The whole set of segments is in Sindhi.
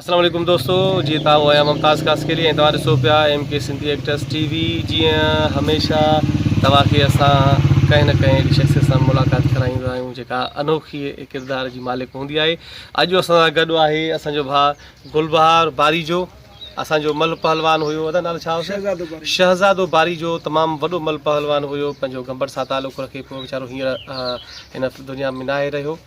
اسلام عليڪم دوستو جي تان هو آهيان ممتاز خاصخيلي ۽ توهان ڏسو پيا M K Sindhi actress T V جيئن هميشه توهان کي اسان ڪنهن نه ڪنهن اهڙي شخصيت سان ملاقات ڪرائيندا آهيون جيڪا انوکي ڪردار جي مالڪ هوندي آهي اڄ اسان سان گڏ آهي اسان جو ڀاء گلبهار باريجو اسان جو مل پهلوان هيو ادا نالو ڇا هو شهزادو باري جو تمام وڏو مل پهلوان هيو پنهنجو گمبر سان تعلق رکي پيو ويچارو هينئر هن دنيا ۾ ناهي رهيو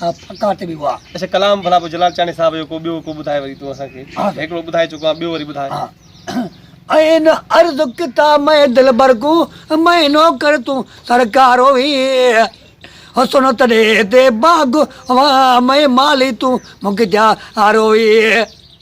پڪا ته به هئا. اچا ڪلام ڀلا پوء جلال چانڊيي صاحب جو ڪو ٻيو ڪو ٻڌاء وري تون اسان کي. ها. هڪڙو ٻڌائي چڪو آهين ٻيو وري ٻڌاء. ها. ائين عرض ڪتا مئي دلبر ڪون مئي نوڪر تون سرڪار هوئي حسن تڏي تي باغ هئا مئي مالي تون مختيار هوئي.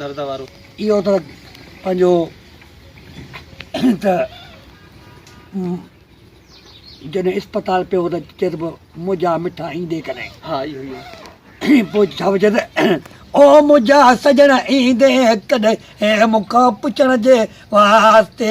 درد وارو. اهو ته پنهنجو ته جڏهن اسپتال پيو ته چيس به مجا مٺا ايندي ڪڏهن. ها اهو ئي آهي. پوء ڇا پيو چيس او مجا سڄڻ ايندي ڪڏهن مون کان پڇڻ جي واسطي.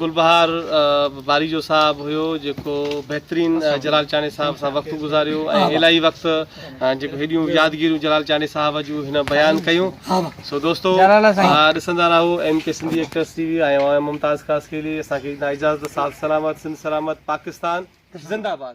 گلبهار باريجو صاحب هيو جيڪو بهترين جلال چانڊئي صاحب سان وقت گذاريو ۽ الاهي وقت جيڪو هيڏيون يادگيرون جلال چانڊئي صاحب جون هن بيان ڪيون سو دوستو ڏسندا رهو M K Sindhi actress T V ۽ آء ممتاز خاصخيلي اسان کي ڏيندا اجازت ساٿ سلامت سنڌ سلامت پاڪستان زنده باد